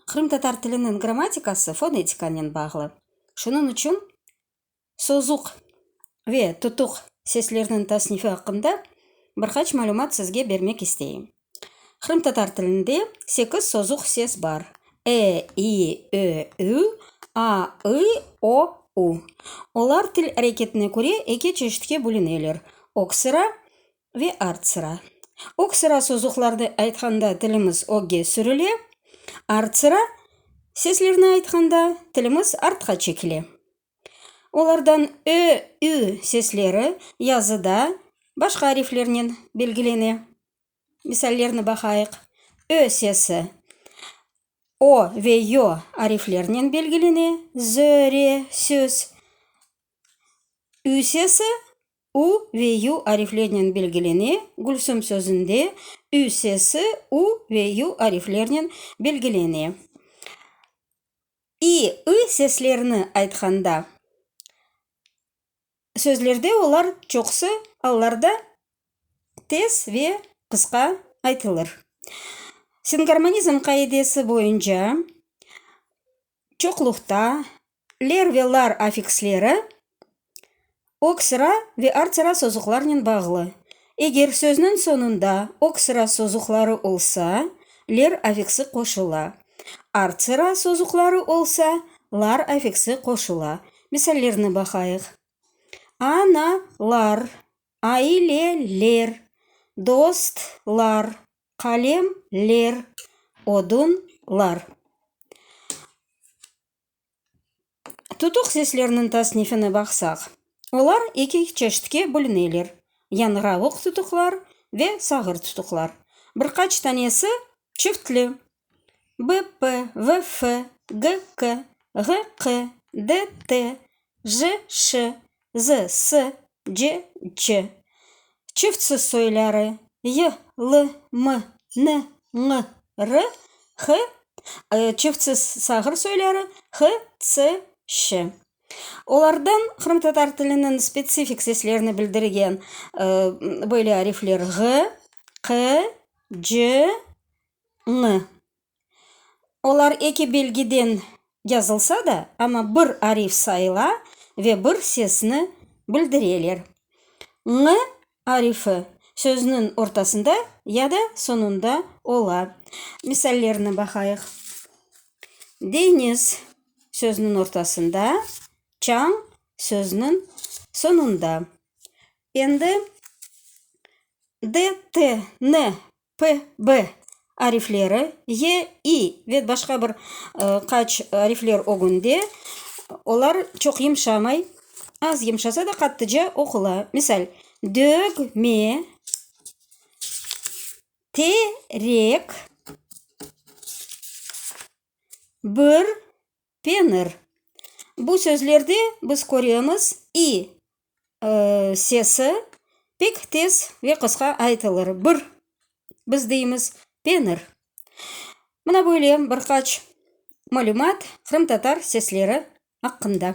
Qırımtatar tiliniñ grammatikası fonetikanen bağlı. Şunıñ içün sozuq ve tutuq seslerniñ tasnifi aqqında bir qaç malümat sizge bermek isteyim. Qırımtatar tilinde sekiz sozuq ses bar, e, i, ö, ü, a, ı, o, u. Olar til areketine köre eki çeşitke bölüneler, öksüra Ve artsıra. Öksıra sozuqlardı aytqanda tilimiz ögge sürile, artsıra seslerni aytqanda tilimiz artqa çekile. Olardan ö, ü sesleri yazıda başqa ariflernen belgilene. Misallerni baqayıq, ö sesi o ve yo ariflernen belgilene, zö, re, söz. Ü sesi ü ve yu ariflernen belgilene, Gülsüm sözünde ü sesi u ve yu ariflernen belgilene. İ, ı seslerini aytqanda, sözlerde olar çoqusı allarda tez ve qısqa aytılır. Singarmonizm qaidesi boyunca, çoqluqta, ler ve lar afiksleri öksıra ve artsıra sozuqlarnen bağlı. Eger sözniñ soñunda öksıra sozuqları olsa, ler afiksi qoşula. Artsıra sozuqları olsa, lar afiksi qoşula. Misallerni baqayıq. A-na-lar. Aileler, dostlar, qalemler, odunlar. Tutuq seslerniñ tasnifine baqsaq, olar eki çeşitke bölüneler, yañravuq tutuqlar ve sağır tutuqlar. Bir qaç tanesi Çiftli, BP, VF, GK, GQ, DT, JŞ, ZS, CC. Çiftsiz soyları, y, l, m, n, ñ, r, h, çiftsiz sağır soyları, h, ç, ş. Olardan qırımtatar tiliniñ spetsifik seslerini bildirgen böyle arifler, ğ, q, C-ni. Olar eki belgiden yazılsa da, amma bir arif sayıla ve bir sesni bildireler. Ñ arifi sözniñ ortasında ya da soñunda ola. Misallerni baqayıq. Deñiz sözniñ ortasında, çañ sözniñ soñunda. Endi D, T, N, P, B arifleri, Y, İ ve başqa bir qaç arifler ögünde olar çoq yımşamay, az yımşasa da qattıca oqula. Misal, dögme, terek, bir Penir. Bu sözlerde biz köremiz, i sesi pek tez ve qısqa aytılır. Bir, biz deymiz, penir. Mına böyle bir qaç malümat qırımtatar sesleri aqqında.